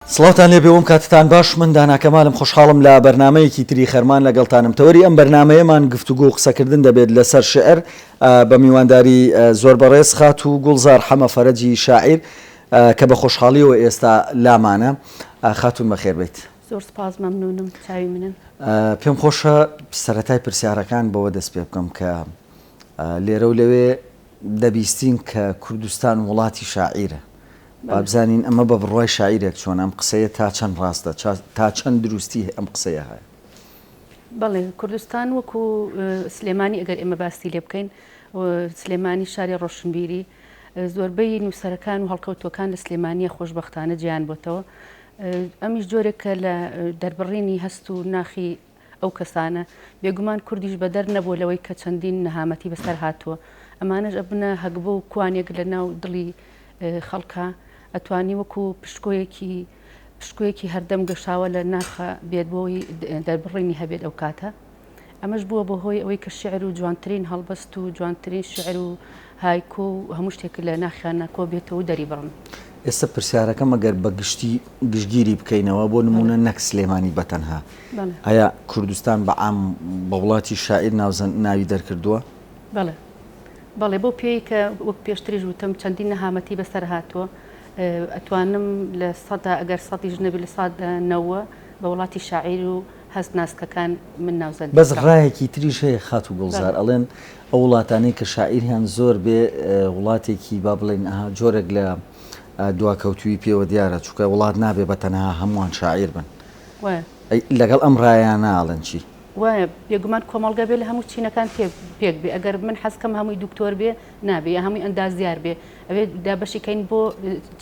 سڵاوتان لێبێ وم کاتتان باش من دانا کەمالم خۆشحاڵم لە بەرنامەیەکی تری خەرمان لەگەڵتانم تەوەری ئەم بەرنامەیەمان گفتوگۆ و قسەکردن دەبێت لەسەر شیعر بە میوانداری زۆر بەڕێز خاتوو گوڵزار حەمە فەرەجی شاعیر کە بە خۆشحاڵیەوە ئێستا لامانە خاتوون بەخێربێیت. زۆر سپاس مەمنونم چاوی منن. پێم خۆشە سەرەتای پرسیارەکان بەوە دەست پێ بکەم کە لێرە و لەوێ دەبیستین کە کوردستان وڵاتی شاعیرە، با بزانین ئەمە بە بڕوای شاعیرێک چۆنە، ئەم قسەیە تا چەند ڕاستە، تا چەند دروستی ئەم قسەیە هەیە؟ بەڵێ، کوردستان وەکو سلێمانی ئەگەر ئێمە باسی لێ بکەین، سلێمانی شاری ڕۆشنبیری، زۆربەی نووسەرەکان و هەڵکەوتووەکان لە سلێمانییە خۆشبەختانە جێیان بۆتەوە، ئەمیش جۆرێکە لە دەربڕینی هەست و ناخی ئەو کەسانە، بێگومان کوردیش بەدەر نەبووە لەوەی کە چەندین نەهامەتی بەسەر هاتووە، ئەمانەش ئەبنە هەگبە و کوانێک لە ناو دڵی خەڵکا، ئەتوانی وەکو پشتکۆیەکی پشتکۆیەکی هەردەم گەشاوە لە ناخ بێت بۆی دەربڕینی هەبێت ئەو کاتە ئەمەش بووە بە هۆی ئەوەی کە شیعر و جوانترین هەڵبەست و جوانترین شیعر و های کۆ و هەموو شتێک لە ناخیانە کۆ بێتەوە و دەری بڕن. ئێستا پرسیارەکەم ئەگەر بە گشتی گشتگیری بکەینەوە بۆ نموونە نەک سلێمانی بە تەنها ئایا کوردستان بە عام بە وڵاتی شاعیر ناوزەند ناوی دەرکردووە؟ بەڵێ بەڵێ بەو پێیەی کە وەک پێشتریش وتم چەندین نەهامەتی بەسەر هاتووە ئەتوانم لە سەدا ئەگەر سەدیش نەبێت لە سەدا نەوە بە وڵاتی شاعیر و هەست ناسکەکان من ناوزەند بەس دەکەم. ڕایەکی تریش هەیە خاتوو گوڵزار بەڵێ. ئەڵێن ئەو وڵاتانەی کە شاعیریان زۆر بێ وڵاتێکی با بڵێین ئەها جۆرێک لە دواکەوتوویی پێوە دیارە چونکە وڵات نابێ بە تەنها هەمووان شاعیر بن وایە. ئەی لەگەڵ ئەم ڕایانە ئەڵێن چی؟ وایە بێگومان کۆمەڵگە بێ لە هەموو چینەکان پێ پێک بێ ئەگەر من حەز کەم هەمووی دوکتۆر بێ نابێ یا هەمووی ئەندازیار بێ ئەبێ دابەشی کەین بۆ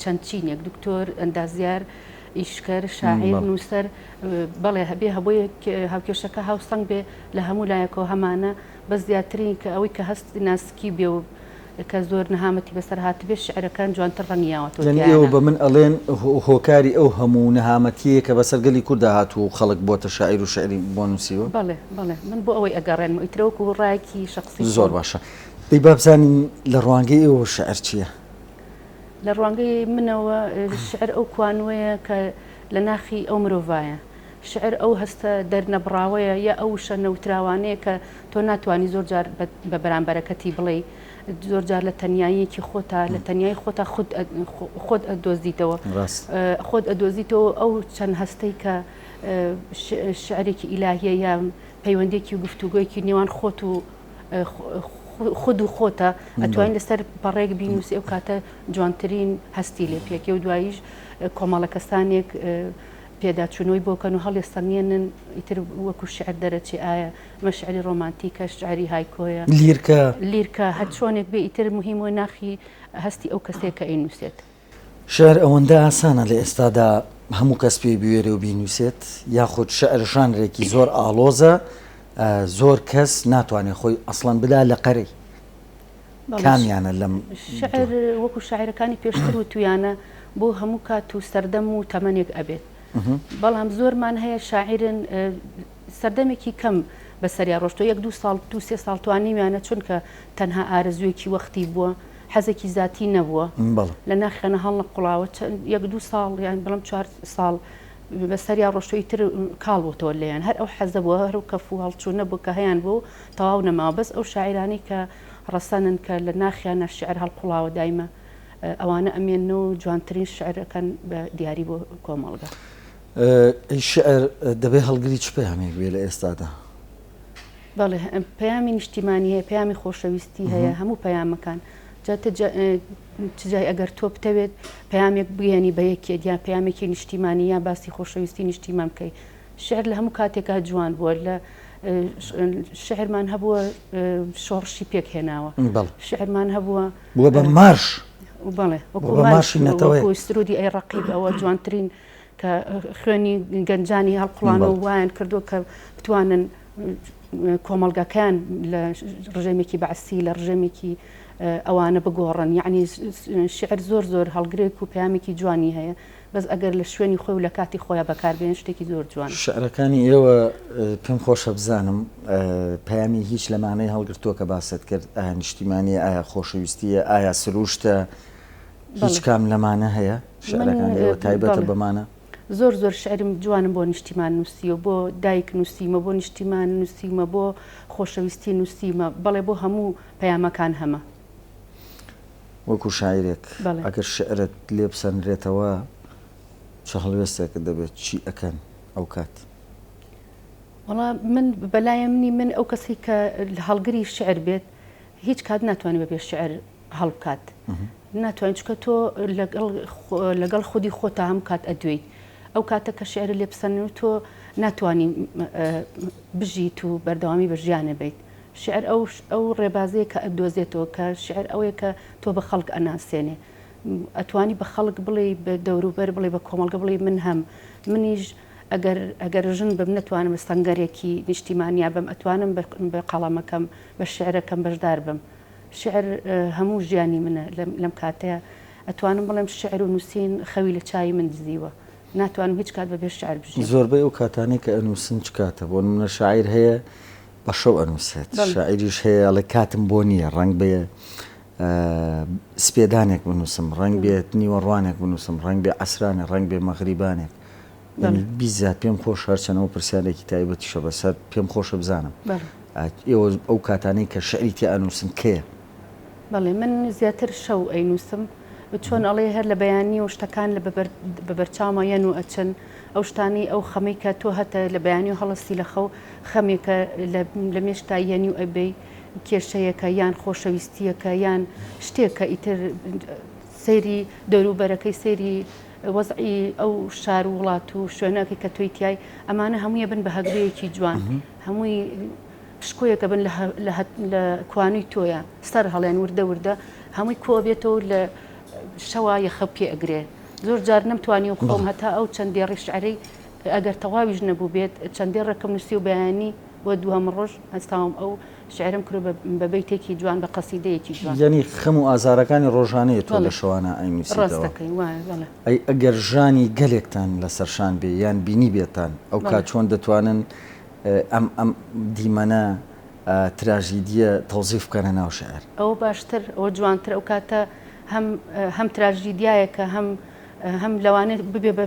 چەند چینێک دوکتۆر ئەندازیار ئیشکەر، شاعیر، نووسەر، بەڵێ هەبێ هەبۆیەک هاوکێشەکە هاوسەنگ بێ لە هەموو لایەکەوە هەمانە بەس زیاترین کە ئەوەی کە هەست ناسکی بێ و کە زۆر نەهامەتی بەسەر هاتبێ شعرەکان جوانتر ڕەنگی یاوەتەوە یانی ئێوە تیایانە. بە من ئەڵێن هۆکاری ئەو هەموو نەهامەتیەیە کە بەسەر گەلی کوردا هاتووە و خەڵک بۆتە شاعیر و شعری بۆ نووسیوە؟ بەڵێ بەڵێ من بۆ ئەوەی ئەگەڕێنمەوە ئیتر وەکو ڕایەکی شەخسی خۆم. زۆر باشە دەی با بزانین لە ڕوانگەی ئێوە شعر چییە؟ لە ڕوانگەی منەوە شیعر ئەو کوانووەیە کە لە ناخی ئەو مرۆڤایە. شیعر ئەو هەستە دەرنەبڕاوەیە یا ئەو وشە نەوتراوانەیە کە تۆ ناتوانی زۆر جار بە بەرامبەرەکەتی بڵێی. زۆر جار لە تەنیاییەکی خۆتا، لە تەنیایی خۆتا خود خۆت ئەدۆزیتەوە. ڕاست. خۆت ئەدۆزیتەوە ئەو چەند هەستەی کە شیعرێکی ئیلاهییە یا پەیوەندییەکی و گفتوگۆیەکی نێوان خۆت و خود و خۆتە ئەتوانین لەسەر پەڕێک بینوسی ئەو کاتە جوانترین هەستی لێ پێکێ و دواییش کۆمەڵە کەسانێک پێداچوونەوەی بۆکەن و هەڵێستەنگێنن ئیتر وەکو شعر دەرەچی ئایا مەشعری ڕۆمانتیکە شعری هایکۆیە لیرکە لیرکە هەر چۆنێک بێ ئیتر مهمی ناخی هەستی ئەو کەسێکە ئەی نووسێت. شیعر ئەوەندە ئاسانە لە ئێستادا هەموو کەس پێی بوێرێ و بینووسێت، یاخود شیعر ژانرێکی زۆر ئاڵۆزە زۆر کەس ناتوانێ خۆی ئەسڵەن بدا لە قەرەی. کامیانە لەم دووە؟ شیعر وەکو شاعیرەکانی پێشتر وتوویانە بۆ هەموو کات و سەردەم و تەمەنێک ئەبێت. بەڵام زۆرمان هەیە شاعیرن سەردەمێکی کەم بەسەریا ڕۆشتووە، یەک دوو ساڵ، دوو سێ ساڵ توانیویانە چونکە تەنها ئارەزوویەکی وەختی بووە، حەزێکی زاتی نەبووە لە ناخیانە هەڵنەقوڵاوە یەک دوو ساڵ یان بڵم چوار ساڵ بە سەریا ڕۆشتوی تر کاڵ بۆ تۆ لێیان هەر ئەو حەزە بووە هەر و کەف و هەڵچوو نەبوو کە هەیان بوو تەواو نەماوە بەس ئەو شاعرانی کە ڕەسەنن کە لە ناخیانە شعر هەڵقوڵاوە دایمە ئەوانە ئەمێن و جوانترین شعرەکەن بە دیاری بۆ کۆمەڵگە شعر دەبێ هەڵگری چ پەیامێک بێ لە ئێستادا؟ بەڵێ پەیامی نیشتیمانی هەیە پەیامی خۆشەویستی هەیە هەموو پەیامەکان چجای ئەگەر تۆ بتەوێت پەیامێک بگەێنی بە یەکێت یا پەیامێکی نیشتیمانی یا باسی خۆشەویستی نیشتیمان بکەیت شعر لە هەموو کاتێکا جوان بووە لە شعرمان هەبووە شۆڕشی پێک هێناوە شعرمان هەبووە بووە بە مارش بەڵێ وەکو ماشی نەتەوەی سرودی ئەی ڕقیب ئەوە جوانترین کە خوێنی گەنجانی هەڵقوڵانەوە و وایان کردووە کە بتوانن کۆمەڵگەکەیان لە ڕژێمێکی بەعسی لە ڕژێمێکی ئەوانە بگۆڕن یعنی شعر زۆر زۆر هەڵگرێک و پامێکی جوانی هەیە بەس ئەگەر لە شوێنی خۆی و لە کاتی خۆیان بەکاربێن شتێکی زۆر جوان شعرەکانی ئێوە پێم خۆشە بزانم پامی هیچ لەمانەی هەڵگرتووە کە باست کرد ئایا نیشتیمانی ئایا خۆشەویستیە ئایا سروشتە هیچ کام لەمانە هەیە شعرەکانی ئێوە تایبەتە بەمانە؟ زۆر زۆر شعرم جوانم بۆ نیشتیمان نووسیوە بۆ دایک نووسیمە بۆ نیشتیمان نووسیمە بۆ خۆشەویستی نووسیمە بەڵێ بۆ هەموو پەیامەکان هەمە. وەکو شاعیرێک ئەگەر شعرت لێ بسەنرێتەوە چ هەڵوێستێکت دەبێت چی ئەکەن ئەو کات؟ وەڵا من بەلایەنی من ئەو کەسی کە هەڵگری شعر بێت هیچ کات ناتوانێت بەبێ شعر هەڵبکات ناتوانین چکە تۆ لەگەڵ خودی خۆتا هەم کات ئەدوێیت ئەو کاتە کە شعر لێ بسەن و تۆ ناتوانین بژیت و بەردەوامی بە ژیانە بیت شعر ئەو ئەو ڕێبازەیە کە ئەدۆزێتەوە کە شعر ئەوەیە کە تۆ بە خەڵک ئەناسێنێ ئەتوانی بە خەڵک بڵێ بە دەوروبەر بڵێ بە کۆمەڵگە بڵێ من هەم منیش ئەگەر ئەگەر ژن بم نتوانم سەنگەرێکی نیشتیمانیا بم ئەتوانم بە قەڵەمەکەم بە شعرەکەم بەشدار بم شیعر هەموو ژیانی منە، لەم کاتەیا ئەتوانم بڵێم شیعر و نووسین خەوی لە چاوی من دزیوە، ناتوانم هیچ کات بەبێ شیعر بژیم. زۆربەی ئەو کاتانەی کە ئەنووسن چ کاتە؟ بۆ نموونە شاعیر هەیە بە شەو ئەنووسێت، شاعیریش هەیە ئەڵێ کاتم بۆ نییە، ڕەنگ بێ سپێدانێک بنووسم، ڕەنگ بێت نیوەڕوانێک بنووسم، ڕەنگ بێ عەسرانێک، ڕەنگ بێ مەغریبانێک، یانی بیززات پێم خۆش هەرچەن ئەو پرسیارێکی تایبەتیشە بەسەر پێم خۆشە بزانم ئێوە ئەو کاتانەی کە شعری تێ ئەنووسن کەیە بەڵێ من زیاتر شەو ئەینووسم چۆن ئەڵێ هەر لە بەیانی و شتەکان لە بەبەرچاومە یەن و ئەچن ئەو شتانی ئەو خەمەی کە تۆ هەتە لە بەیانی و هەڵستی لە خەو خەمێکە لە مێشتا یەنی و ئەبەی کێشەیەکە یان خۆشەویستیەکە یان شتێکە ئیتر سەیری دەوروبەرەکەی سەیری وەزعی ئەو شار و وڵات و شوێنەکەی کە تۆی تیای، ئەمانە هەمووی ئەبن بە هەگبەیەکی جوان، هەمووی پشکۆیەک ئەبن لە کوانووی تۆیا، سەر هەڵێن وردە وردە هەمووی کۆ ئەبێتەوە و لە شەوا یەخە پێ ئەگرێ. زۆر جار نەمتوانی و خۆم هەتا ئەو چەند دێڕی شعرەی ئەگەر تەواویش نەبووبێت، چەند دێڕێکم نووسی و بەیانی بۆ دووهەم ڕۆژ هەستاوم ئەو شعرم کرۆ بە بەیتێکی جوان بە قەسیدەیەکی جوان. یەنی خەم و ئازارەکانی ڕۆژانەیە تۆ لە شەوانە ئەینوسیتەوە. ڕاست دەکەی وایە بەڵێ. ئەی ئەگەر ژانی گەلێکتان لە سەرشان بێ یان بینیبێتان ئەوکات چۆن دەتوانن ئەم ئەم دیمەنە تراژیدییە تەوزیف بکەنە ناو شعر؟ ئەوە باشتر ئەوە جوانتر ئەو کاتە هەم هەم تراژیدیایەکە هەم هەم لەوانێ ببێ بە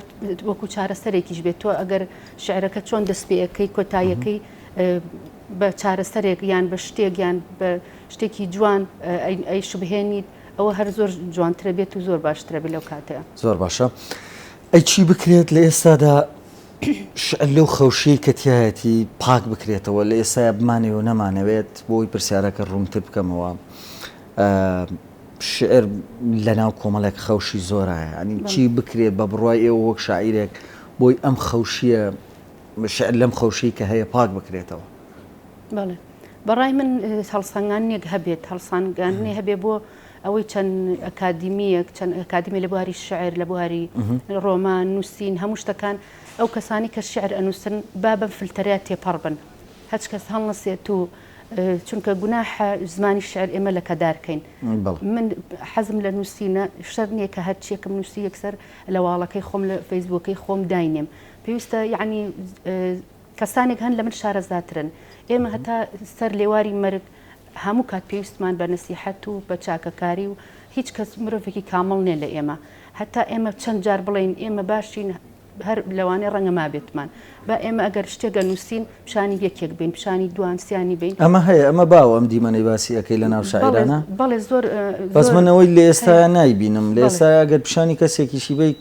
وەکوو چارەسەرێکیش بێت تۆ ئەگەر شعرەکە چۆن دەست پێ ئەکەی کۆتاییەکەی بە چارەسەرێک یان بە شتێک یان بە شتێکی جوان ئەیشبهێنیت ئەوە هەر زۆر جوانترە بێت و زۆر باشترە بێت لەو کاتەیە. زۆر باشە ئەی چی بکرێت لە ئێستادا شعر لەو خەوشەی کە تیایەتی پاک بکرێتەوە لە ئێستایا بمانەوێ و نەمانەوێت بۆ ئەوەی پرسیارەکە ڕوونتر بکەمەوە شعر لە ناو کۆمەڵێک خەوشی زۆرایە ئەنی چی بکرێت بە بڕای ئێوە وەک شاعیرێک بۆی ئەم خەوشیە شعر لەم خەوشەی کە هەیە پاک بکرێتەوە. بەڵێ بەڕای من هەڵسەنگاندنێک هەبێت هەڵسانگاندنی هەبێ بۆ ئەوەی چەند ئەکادیمیەک چەند ئەکادمی لە بواری شعر لە بواری ڕۆمان نووسین هەموو شتەکان ئەو کەسانی کە شعر ئەنووسن با بەم فلتەریا تێپەڕ بن هەچ کەس هەڵنەسێت و چونکە گوناحە زمانی شعر ئێمە لە کەدارکەین من حەزم لە نووسینە شەر نییە کە هەرچیەکم نووسی یەکسەر لە واڵەکەی خۆم لە فەیسبووەکەی خۆم داینێم پێویستە یەعنی کەسانێک هەن لەمن شارەزاترن ئێمە هەتا سەر لێواری مەرگ هەموو کات پێویستمان بە نسیحەت و بە چاکەکاری و هیچ کەس مرۆڤێکی کامەڵ نێ لە ئێمە هەتا ئێمە چەند جار بڵین ئێمە باشین هەر لەوانێ ڕەنگە مابێتمان با ئێمە ئەگەر شتێگە نووسین پیشانی یەکێک بین پیشانی دوان سیانی بین ئەمە هەیە ئەمە باوە ئەم دیمەنەی باسی ئەەکەی لە ناو شاعرانە بەڵێ زۆر بەزمنەوەی لە ئێستا نایبینم لە ئێستا گەر پیشانی کەسێکیشی بیت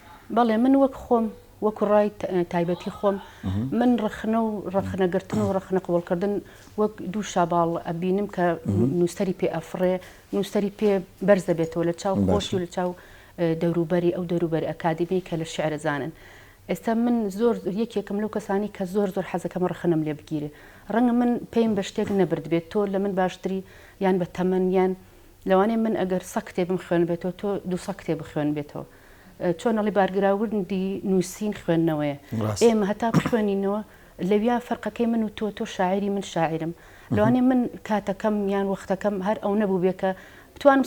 بەڵێ من وەک خۆم وەکو ڕای تایبەتی خۆم من ڕخنە و ڕخنەگرتن و ڕخنە قوڵکردن وەک دوو شاباڵ ئەبینم کە نووسری پێ ئەفڕێ نووسری پێ بەرز دەبێتەوە لە چاو خۆشی و لە چاو دەوروبەری ئەو دەوروبەری ئەکادمی کە لە شعرە زانن ئێستا من زۆر یەکێکم لەو کەسانی کە زۆر زۆر حەزەکەم ڕخنم لێ بگیرێ ڕەنگە من پێیم بە شتێک نەبرد بێت تۆ لە من باشتری یان بە تەمەن یان لەوانێ من ئەگەر سە کتێبم خوێن بێتەوە تۆ دوو سە کتێ بخوێن بێتەوە چۆن ئەڵێ بارگراوندی نووسین خوێندنەوەیە. ئێمە هەتا بخوێنینەوە لەویا فەرقەکەی من و تۆ، تۆ شاعیری من شاعیرم. لەوانەیە من کاتەکەم یان وەختەکەم هەر ئەونە بووبێ کە بتوانم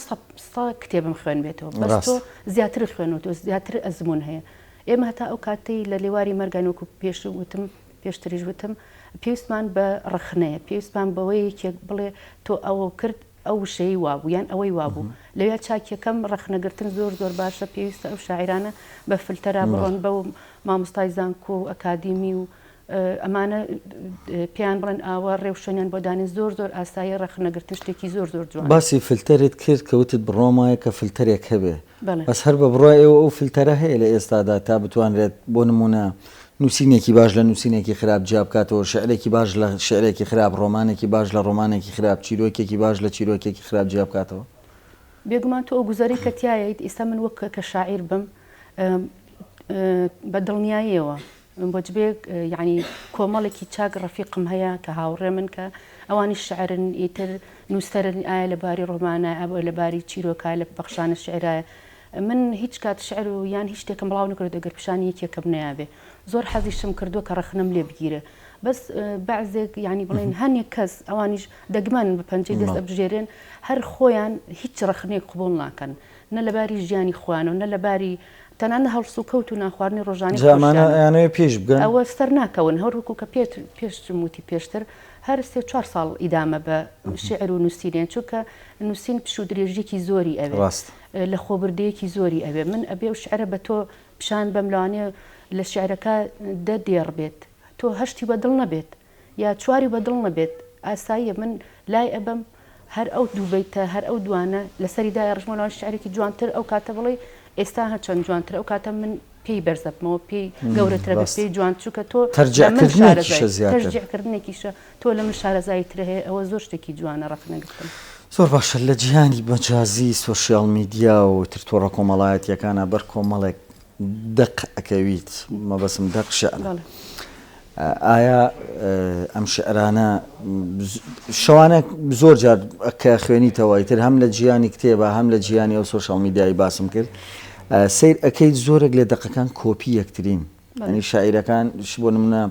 سەد کتێبم خوێنبێتەوە. بەس تۆ زیاترت خوێنووەتەوە، زیاتر ئەزموون هەیە. ئێمە هەتا ئەو کاتەی لە لێواری مەرگان وەکو پێش وتم، پێشتریش وتم، پێویستمان بە ڕەخنەیە، پێویستمان بەوەیە یەکێک بڵێ تۆ ئەوە کرد، ئەو وشەی وابوو یان ئەوەی وابوو لەویا چاکیەکەم ڕەخنەگرتن زۆر زۆر باشە پێویستە ئەو شاعرانە بە فلتەرا بڕۆن بەو مامۆستای زانکۆ و ئەکادیمی و ئەمانە پێیان بڵێن ئاوا ڕێوشوێنیان بۆ دانێن زۆر زۆر ئاسایی ڕەخنەگرتن شتێکی زۆر زۆر جوان باسی فلتەرت کرد کەوتت بڕوام وایە کە فلتەرێک هەبێ بەس هەر بە بڕوای ئێوە ئەو فلتەرە هەیە لە ئێستادا تا بتوانرێت بۆ نموونە نووسینێکی باش لە نووسینێکی خراپ جیا بکاتەوە، شیعرێکی باش لە شیعرێکی خراپ، ڕۆمانێکی باش لە ڕۆمانێکی خراپ، چیرۆکێکی باش لە چیرۆکێکی خراپ جیا بکاتەوە؟ بێگومان تۆ ئەو گوزەرەی کە تیایت ئیستا من وەک کە شاعیر بم بە دڵنیاییەوە من بۆ جبێ یانی کۆمەڵێکی چاک ڕەفیقم هەیە کە هاوڕێمن کە ئەوانیش شعرن ئیتر نووسەرن ئایا لە باری ڕۆمانە ئەبێ لە باری چیرۆکە لە پەخشانە شعرایە من هیچ کات شعر و یان هیچ شتێکم بڵاو نەکرد ئەگەر پیشانی یەکێکم نەیابێ زۆر حەزیشم کردووە کە ڕەخنەم لێ بگیرێ بەس بەعزێک یانی بڵێن هەنێک کەس ئەوانیش دەگمەن بە پەنجەی دەست ئەبژێرێن هەر خۆیان هیچ ڕەخنێک قبول ناکەن نە لەباری ژیانی خۆیانەوە نە لەباری تەنان لە هەڵسوکەوت و نانخواردنی ڕۆژانەی جا ئەمانە خۆشیانە ئەیانەوێ پێیش بگەن؟ ئەوە سەر ناکەون، هەروەکو کە پێت پێشتم وتی پێشتر، هەر سێ چوار ساڵ ئیدامە بە شیعر و نووسین یەن، چونکە نووسین پشوو درێژییەکی زۆری ئەوێ، ڕاستە. لەخۆبردەیەکی زۆری ئەوێ، من ئەبێ ئەو شیعرە بە تۆ پیشان بەم، لەوانەیە لە شیعرەکە دە دێڕ بێت، تۆ هەشتی بە دڵ نەبێت، یا چواری بە دڵ نەبێت ئاساییە من لای ئەبەم هەر ئەو دوو بەیتە هەر ئەو دوانە لەسەری دایڕژمەوە لەوان شیعرێکی جوانتر ئەو کاتە بڵێی ئێستا هەر چەند جوانترە ئەو کاتە من پێی بەرزەبمەوە پێی گەورەترە بە پێی جوان چووکە تۆ لە من شارەزای تەشجیع کردنێکیشە تۆ لە من شارەزایی ترە هەیە ئەوە زۆر شتێکی جوانە ڕەخنە گرتن. زۆر باشە لە جیهانی مەجازی سۆشیاڵ میدیا و تر تۆڕە کۆمەڵایەتییەکانا بەر کۆمەڵێک دەق ئەکەویت مەبەستم دەق شعرە بەڵێ. ئایا ئەم شعرانە شەوانە زۆر جار کە خوێنیتەوە ئیتر هەم لە جیانی کتێبە هەم لە جیانی ئەو سۆشیال میدیایی باسم کرد ئا، سەیر ئەکەیت زۆرێک لە دەقەکان کۆپی یەکترین بەڵێ. یانی شاعیرەکان ش بۆ نمونە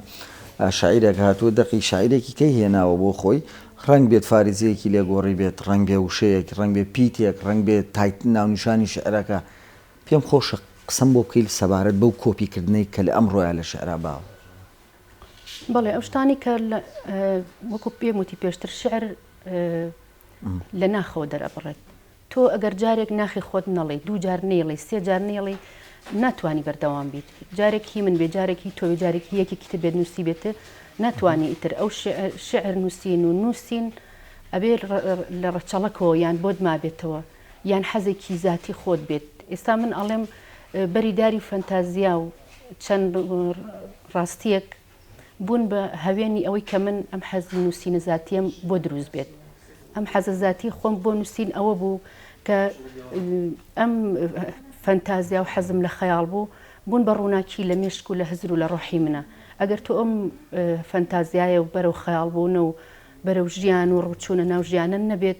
ئا، شاعیرێک هاتووە دەقی شاعیرێکی کەی هێناوە بۆ خۆی ڕەنگ بێت فاریزەیەکی لێ گۆڕیبێت ڕەنگ بێ وشەیەک ڕەنگ بێ پیتێک ڕەنگ بێ تایت ناونیشانی شعرەکە پێم خۆشە قسەم بۆ بکەیت سەبارەت بەو کۆپی کردنەی کە لە ئەمڕۆیە لە شعرا باو. بەڵێ ئەو شتانەی کە وەکو پێم وتی پێشتر شعر لە ناخەوە دەرئەبڕێت. تۆ ئەگەر جارێک ناخی خۆت نەڵێی دوو جار نێڵی سێ جار نێڵی ناتوانانی بەردەوام بیت جارێکی من بێ جارێکی تۆ جارێکی یەکێکی تر بێت نووسی بێتە ناتوانانی ئیتر ئەو شعر نووسین و نووسین ئەبێ لە ڕەچەڵەکەوە یان بۆت مابێتەوە یان حەزێکی زاتی خۆت بێت ئێستا من ئەڵێم بەری داری فەنتازیا و چەند ڕاستیەک بوون بە هەوێنی ئەوەی کە من ئەم حەزی نووسینە زاتیم بۆ دروست بێت ئەم حەزە زاتی خۆم بۆ نووسین ئەوە بوو کە ئەم فەنتازیا و حەزم لە خەیاڵ بوو بوون بە ڕووناکی لە مێشک و لە هزر و لە ڕۆحی منە ئەگەر تۆ ئەم فەنتازیایە و بەرەو خەیاڵ بوونە و بەرەو ژیان و ڕوچوونە ناو ژیانن نەبێت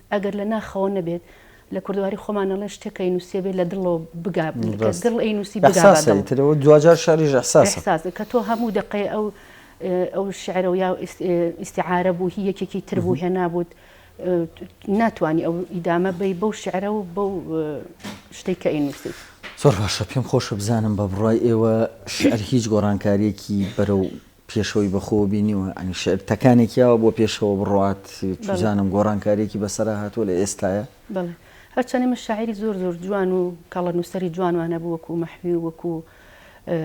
ئەگەر لە ناخەوە نەبێت، لە کوردەواری خۆمان ئەڵێن شتێک کە ئەینووسێ بێ لە دڵەوە بگا، کە دڵ ئەینووسی بگا بە دڵ. ئیحساسە. کە تۆ هەموو دەقەی ئەو ئەو شعرە و یا ئیستیعارە بوو، هی یەکێکی تر بوو، هێنابووت، ناتوانی ئەو ئیدامە بەی بەو شعرە و بەو شتەی کە ئەینووسیت. زۆر باشە. پێم خۆشە بزانم بە بڕوای ئێوە شعر هیچ گۆڕانکارییەکی بەرەو پێشەوەی بە خۆوە بینیوە یانی شعر تەکانێکی ئاوا بۆ پێشەوە بڕوات چزانم گۆڕانکاریەکی بەسەرا هاتووە لە ئێستایا؟ بەڵێ هەرچەنێ من شاعری زۆر زۆر جوان و کەڵە نووسەری جوانوان هەبوو وەکوو مەحوی و وەکوو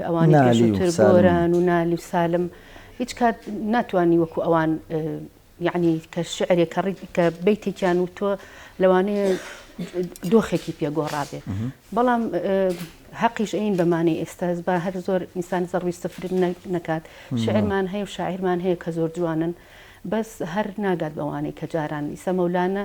ئەوانی پێشووتر گۆران و نالی و سالم هیچ کات ناتوانی وەکوو ئەوان یەعنی کە شیعرێک کە ڕیت کە بەیتێکیان وتووە لەوانەیە دۆخێکی پێ گۆڕابێ بەڵام هەقیش ئەین بەمانەی ئێستا با هەر زۆر ئینسان زەڕوی سفر نەکات شعرمان هەیە و شاعرمان هەیە کە زۆر جوانن بەس هەر ناگات بەوانەی کە جاران ئیسە مەولانە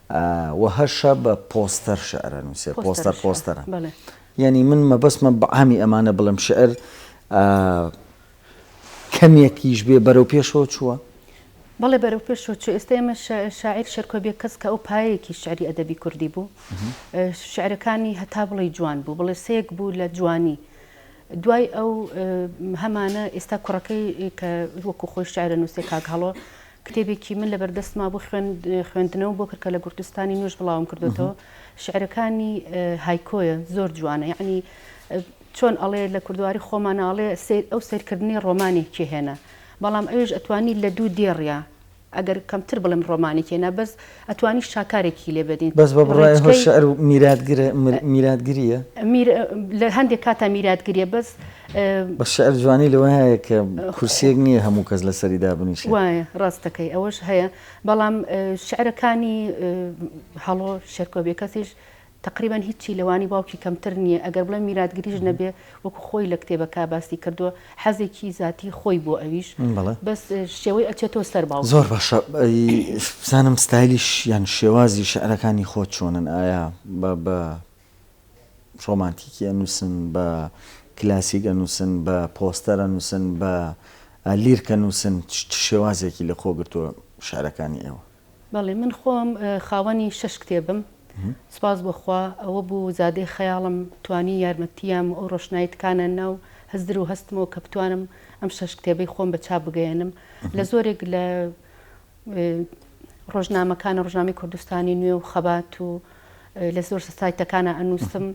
وە هەر شە بە پۆستەر شعر ئەنوسێ پۆستەر پۆستەرە یەنی من مەبەستمە بە عامی ئەمانە بڵێم شعر کەمێکیش بێ بەرەو پێشەوە چووە؟ بەڵێ بەرەو پێشەوە چووە ئێستا ئێمە شاعیر شێرکۆ بێکەس کە ئەو پایەیەکی شعری ئەدەبی کوردی بوو شعرەکانی هەتا بڵێی جوان بوو بڵێ سێک بوو لە جوانی دوای ئەو هەمانە ئێستا کوڕەکەی کە وەکو خۆی شعرە نووسێ کاک هەڵۆ کتێبێکی من لەبەر دەستما بوو خوێندنەوەم بۆ کرد کە لە گورتستانی نوێژ بڵاوم کردوێتەوە شعرەکانی هایکۆیە زۆر جوانە یعنی چۆن ئەڵێ لە کوردواری خۆمانناڵێ سیر ئەو سیرکردنی ڕۆمانێکی هێنا بەڵام ئەوش ئەتوانی لە دوو دێڕە ئەگەر کەمتر بڵم ڕۆمانێکێنا بەس ئەتوانی شاکارێکی لێ بەدین. بەس بە بڕای هۆ شعر و میراتگرە میراتگریە؟ میر لە هەندێک کاتا میراتگریە بەس. بە شعر جوانی لەوە هەیە کە کورسیەک نییە هەموو کەس لەسەری دابنیشێ. وایە ڕاست دەکەی ئەوەش هەیە بەڵام شعرەکانی هەڵۆ شێرکۆ بێکەسیش تەقریبەن هیچی لە وانی باوکی کەمتر نییە، ئەگەر بڵێم میراتگریش نەبێ وەکو خۆی لە کتێبەکا باسی کردووە، حەزێکی زاتی خۆی بووە ئەویش، بەس شێوەی ئەچێتەوە سەر باوکی. زۆر باشە، بزانم ستایلیش یان شێوازی شیعرەکانی خۆت چۆنن، ئایا بە ڕۆمانتیکی ئەنووسن، بە کلاسیک ئەنووسن، بە پۆستەر ئەنووسن، بە لیرک ئەنووسن، چ شێوازێکی لە خۆ گرتووە شیعرەکانی ئێوە؟ بەڵێ من خۆم خاوەنی شەش کتێبم سوپاس بۆ خوا ئەوە بوو زادەی خەیاڵم توانی یارمەتییام و ئەو ڕۆشنایی تکانە ناو هزر و هەستمەوە کە بتوانم ئەم شەش کتێبەی خۆم بە چاپ بگەیەنم لە زۆرێک لە ڕۆژنامەکانە ڕژامی کوردستانی نوێ و خەبات و لە زۆر سایتەکانە ئەنووسم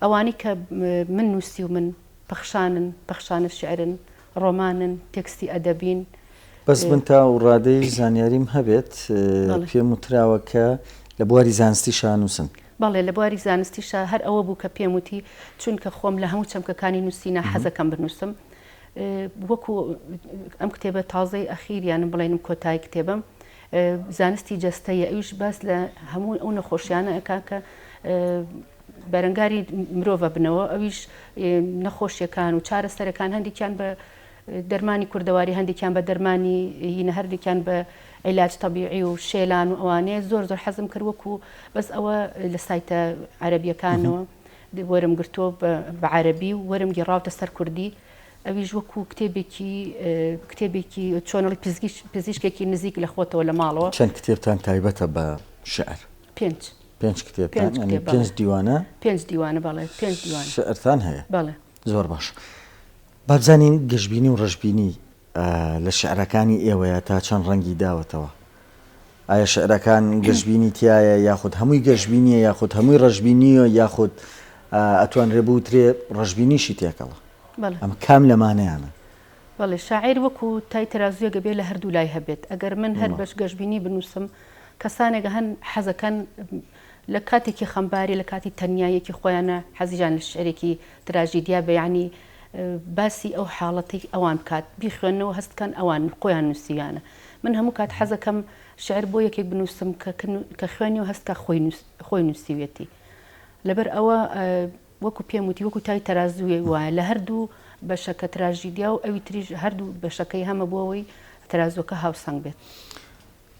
ئەوانی کە من نووسی و من پەخشانن پەخشانە شعرن ڕۆمانن، تێکستی ئەدەبین. بەس من تا و ڕادەی زانیاریم هەبێت پێم وتراوە کە لە بواری زانستی شا نووسن. بەڵێ لە بواری زانستی شا هەر ئەوە بوو کە پێم وتی، چونکە خۆم لە هەموو چەمکەکانی نووسینە حەزەکەم بنووسم. وەکوو ئەم کتێبە تازەی ئەخیریانم بڵێنم کۆتایی کتێبەم زانستی جەستەیە ئەویش باس لە هەموو ئەو نەخۆشیانە ئەکا کە بەرەنگاری مرۆڤ ئەبنەوە ئەویش نەخۆشیەکان و چارەسەرەکان هەندێکیان بە دەرمانی کوردەواری هەندێکیان بە دەرمانی هینە هەردێکیان بە عیلاج تەبیعی و شێلان و ئەوانەیە زۆر زۆر حەزم کرد وەکو بەس ئەوە لە سایتە عەربیەکانەوە وەرم گرتۆ بە عەربی و وەرم گەڕاوتە سەر کوردی ئەویش وەکو کتێبێکی کتێبێکی چۆنڵی پزیشکێکی نزیک لە خۆتەوە لە ماڵەوە چەند کتێبتان تایبەتە بە شعر پێنج پێنج کتێبتان پێنج کتێب، بەڵێ. پێنج دیوانە پێنج دیوانە بەڵێ پێنج دیوان شعرتان هەیە بەڵێ زۆر باش با بزانین گەشبینی و ڕەشبینی ئا، لە شعرەکانی ئێوەیە تا چەند ڕەنگی داوەتەوە؟ ئایا شعرەکان گەشبینی تیایە یاخود هەمووی گەشبینیە یاخود هەمووی ڕەشبینیە یاخود ئا، ئەتوانرێ بوترێ ڕەشبینیشی تێکەڵە؟ بەڵێ. ئەمە کام لەمانەیانە؟ بەڵێ شاعیر وەکو تای تەرازووێک ئەبێ لە هەردوو لای هەبێت ئەگەر من هەر بەش گەشبینی بنووسم کەسانێک هەن حەزەکەن لە کاتێکی خەمباری لە کاتی تەنیاییەکی خۆیانە حەزیان لە شعرێکی تراژیدیا بە یانی باسی ئەو حاڵەتی ئەوان بکات بیخوێنەوە هەست بکەن ئەوان خۆیان نووسیویانە من هەموو کات حەزەکەم شعر بۆ یەکێک بنووسم کە خوێنی و هەستکە خۆی خۆی نووسیویەتی لەبەر ئەوە وەکو پێم وتی وەکو تای تەرازووێک وایە لە هەردوو بەشەکە تراژیدیا و ئەوی تریش هەردوو بەشەکەی هەمە بۆ ئەوەی تەرازووەکە هاوسەنگ بێت.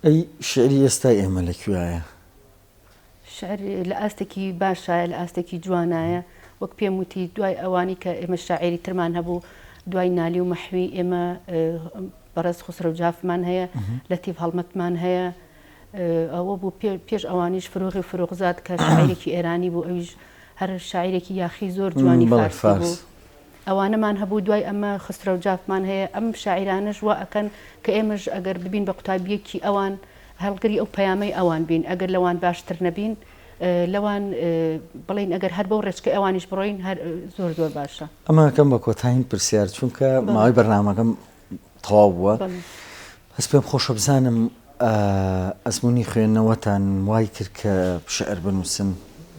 ئەی شیعری ئێستای ئێمە لە کوێایە؟ شیعر لە ئاستێکی باشایە لە ئاستێکی جوانایە وەک پێم وتی دوای ئەوانی کە ئێمە شاعێری ترمان هەبوو دوای نالی و مەحوی ئێمە بەڕێز خوسرە و جافمان هەیە لە تیڤ هەڵمەتمان هەیە ئەوە بوو پێش ئەوانیش فرۆغی فرۆخزاد کە شاعیرێکی ئێرانی بوو ئەویش هەر شاعیرێکی یاخی زۆر جوانی بەڵێ فارسی بوو فارس ئەوانەمان هەبوو دوای ئەمە خسرەو جافمان هەیە ئەم شاعیرانەش وا ئەکەن کە ئێمەش ئەگەر ببین بە قوتابیەکی ئەوان هەڵگری ئەو پەیامەی ئەوان بین ئەگەر لەوان باشتر نەبین اه، لەوان اه، بڵێین ئەگەر هەر بەو ڕێچکەی ئەوانیش بڕۆین هەر اه، زۆر زۆر باشە. ئەمە ئەکەم بە کۆتایین پرسیار چونکە بەڵێ ماوەی بەرنامەکەم تەواو بووە هەست پێم خۆشە بزانم ئەزمونی خوێندنەوەتان وای کرد کە شعر بنووسن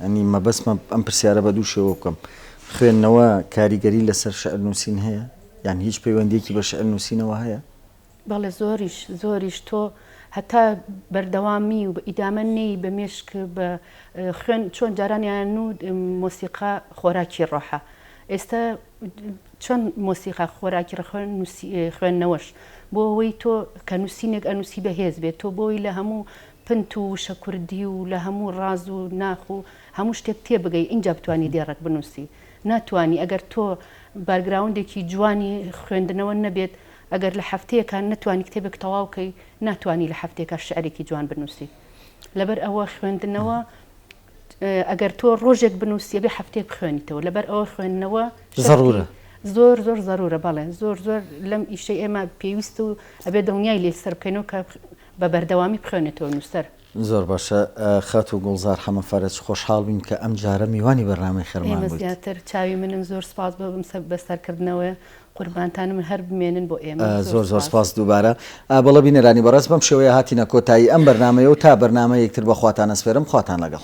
ئەنی مەبەستمە ئەم پرسیارە بە دوو شێوە بکەم خوێندنەوە کاریگەری لەسەر شعر نووسین هەیە یان هیچ پەیوەندێکی بە شعر نووسینەوە هەیە بەڵێ زۆریش زۆریش تۆ هەتا بەردەوامی و ئیدامە نەی بە مێشک بە خوێن چۆن جارانیان و مۆسیقا خۆراکی ڕۆحە ئێستا چۆن مۆسیقا خۆراکی ڕەخۆ نوسی خوێندنەوەش بۆ ئەوەی تۆ کە نوسینێک ئەنوسی بەهێز بێت تۆ بۆی لە هەموو پنت و وشە کوردی و لە هەموو ڕاز و ناخ و هەموو شتێک تێبگەی ئینجا بتوانی دێڕەک بنوسی ناتوانی ئەگەر تۆ بارگراوندێکی جوانی خوێندنەوە نەبێت ئەگەر لە هەفتەیەکە نەتوانی کتێبێک تەواو کەی ناتوانی لە هەفتەیەکە شعرێکی جوان بنوسی لەبەر ئەوە خوێندنەوە ئەگەر تۆ ڕۆژێک بنووسی ئەبێ هەفتەیەک بخوێنیتەوە لەبەر ئەوە خوێندنەوە زەڕوورە زۆر زۆر زەروورە بەڵێ زۆر زۆر لەم ئیشەی ئێمە پێویست و ئەبێ دڵنیای لێ سەر بکەینەوە کە بە بەردەوامی بخوێنێتەوە نووسەر زۆر باشە خاتوو گوڵزار حەمە فەرەج خۆشحاڵ بین کە ئەمجارە میوانی بەرنامەی خێرمان بوویت. ئێمە زیاتر چاوی منن زۆر سپاس بۆ بم بە سەرکردنەوە قوربانتانم هەر بمێنن بۆ ئێمە. زۆر زۆر سپاس دووبارە. بەڵێ بینەرانی بەڕێز بەم شێوەیە هاتینە کۆتایی ئەم بەرنامەیە و تا بەرنامەیەک تر بەخواتان ئەسپێرم خواتان لەگەڵ.